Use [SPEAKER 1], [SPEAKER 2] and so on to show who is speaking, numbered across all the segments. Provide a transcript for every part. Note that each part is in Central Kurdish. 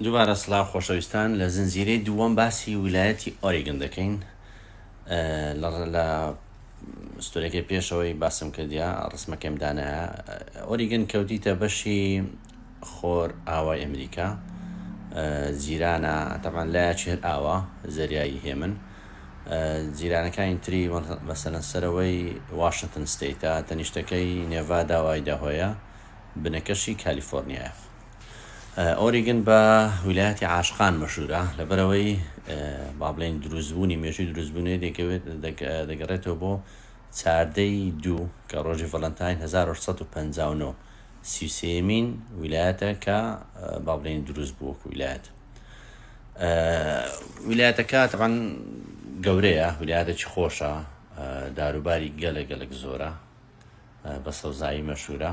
[SPEAKER 1] دووبارە سڵاو خۆشەویستان لە زنجیرەی دووەم باسی ویلایەتی ئۆریگن دەکەین لە ستۆرەکەی پێشەوەی باسم کردیا ڕسمەکەم دانایە ئۆریگن کەوتیتە بەشی خۆر ئاوای ئەمریکا جیرانە تەمان لایەکی هەر ئاوا زەریایی هێمن جیرانەکانی تری مەسەەن سەرەوەی واشنگتن ستیتە تەنیشتەکەی نێڤادا وایداهۆیە بنەکەشی کالیفۆرنیایە ئۆریگن بە ویلایەتی عاشقان مەشهورە لەبەرەوەی با بڵێین دروستبوونی مێژووی دروستبوونی دەکەوێت دەگەڕێتەوە بۆ چاردەی دوو کە ڕۆژی ڤەلەنتاین 1959 سیوسێمین ویلایەتە کە با بڵێین دروست بوو وەکو ویلایەت ویلایەتەکە تەبان گەورەیە ویلایەتێکی خۆشە داروباری گەلە گەلک زۆرە بە سەوزایی مەشهورە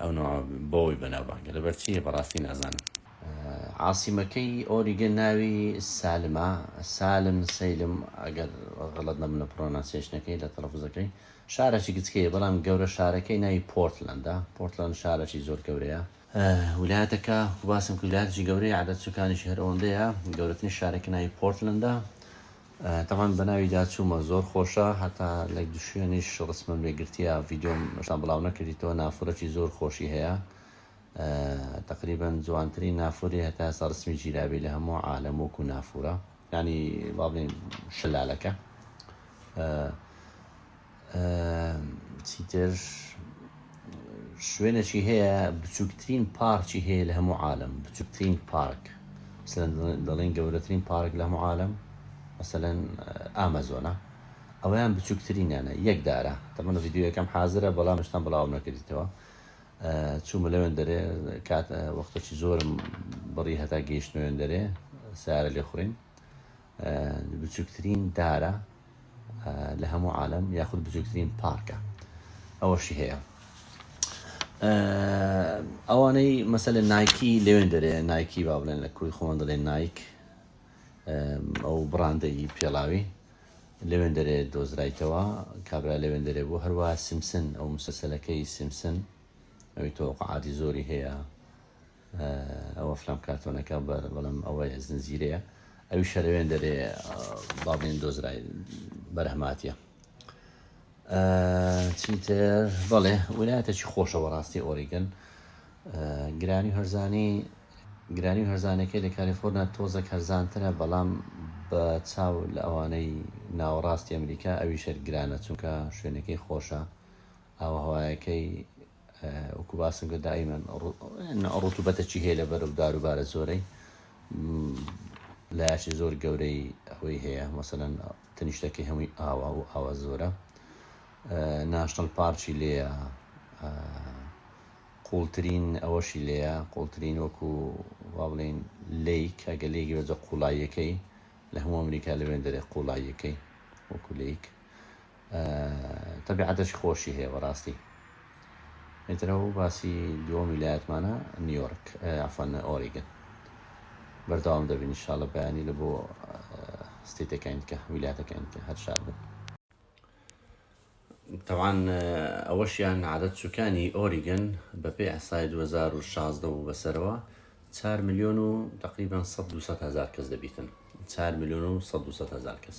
[SPEAKER 1] ئەو نوع بۆی بەناوبانگە لەبەر چیە بەڕاستی نازانم. عاسیمەکەی ئۆریگە ناوی سالمە سالم سەیلم ئەگەر غەڵەت نەبم لە پڕۆناسیەیشنەکەی لە تەڵەفوزەکەی شارەکی گچکەیە بەڵام گەورە شارەکەی ناوی پۆرتلەندە پۆرتلەند شارەکی زۆر گەورەیە ولایەتەکە وباسم کرد ولایەتێکی گەورەیە عەدەد سوکانیشی هەر ئەوەندەیە گەورەترین شارەکە ناوی پۆرتلەندە تەمان بەناوی دا چومە. زۆر خۆشە هەتا لەک دشوێنیش ڕسمم لێ گرتیە ڤیدۆم هێشتا بڵاو نەکردیتەوە نافورەکی زۆر خۆشی هەیە تەقریبەن جوانترین نافوری هەتا ئێستا ڕسمی گیرابی لە هەموو عالەم وەکو نافورە یانی وابڵێین شەلالەکە. چیتر شوێنەکی هەیە بچووکترین پارکی هەیە لە هەموو عالم بچووکترین پارک دەڵێن گەورەترین پارک لە هەموو عالم مەسەەن ئامەزۆنا ئەویان بچووکترینیانە یەک دارە تەمەە یددیوەکەم حاضرە بەڵام شتان بڵاو نەکردیتەوە چوومە لەوێن دەرێ کات وەختەکی زۆرم بڕی هەتا گەیشتنەوێن دەرێ سارە لێ خوڕین بچوکترین دارە لە هەموو عالم یاخود بچوکترین پارکە ئەوەشی هەیە ئەوانەی مەسە لە نایکی لەوێن دەرێ نایکی با بڵێن لە کوی خۆن دەڵێن نایک ئەو بڕاندەی پێڵاوی لەوێن دەرێ دۆزرایتەوە کابرا لەوێن دەرێ بۆ هەروە سیمسن ئەو مسەسەلەکەی سیمسن ئەوی تۆقعاتی زۆری هەیە ئەوە فلام کارتۆنەکە بەر بەڵام ئەوەیە زنجیرەیە ئەوی شەرەوێن دەرێ باڵێن دۆزرای بەرهماتە چیتر بەڵێ ویلایەتەکی خۆشە بەڕاستی ئۆریگن گرانی هەرزانی گرانی هەرزانەکەی لە کالیفۆرنا تۆزەک هەرزانترە بەڵام بە چاو لە ئەوانەی ناوەڕاستی ئەمریکا ئەوی شەر گرانە چونکە شوێنەکەی خۆشە ئاوهوایەکەی وەکو باسم کرد دائیمەن ڕوتوبەتە چی هەیە لە بەرەو دار و بارە زۆرەی لاشی زۆر گەورەی ئەوەی هەیە مەسەەن تەنیشتەکەی هەمووی ئاوا و ئاوا زۆرە ناشتەل پارچی لێە قوڵترین ئەوەشی لێە قوڵترین وەکو وا بڵین لیک ئەگە لێگی بەجە قوڵاییەکەی لە هەموو ئەمریکا لەوێن دەرێ قوڵاییەکەی وەکو لیک تەبیعەتەشی خۆشی هەیە بەڕاستی ئیتر ئەو باسی دووەم ویلایەتمانە نیویۆرک عفەن ئۆریگن بەردەوام دەبین شاڵە بەیانی لە بۆ ستیتەکەین کە ویلاتەکەین کە هەر شاد بن طبعا ئەوەشیان عادەت چووکانی ئۆریگن بەپێ ئەسای 2016 و بەسەرەوە 4 میلیۆن و تقریبان 100 هزار کەس دەبیتن 4 میلیۆن و 100 هزار کەس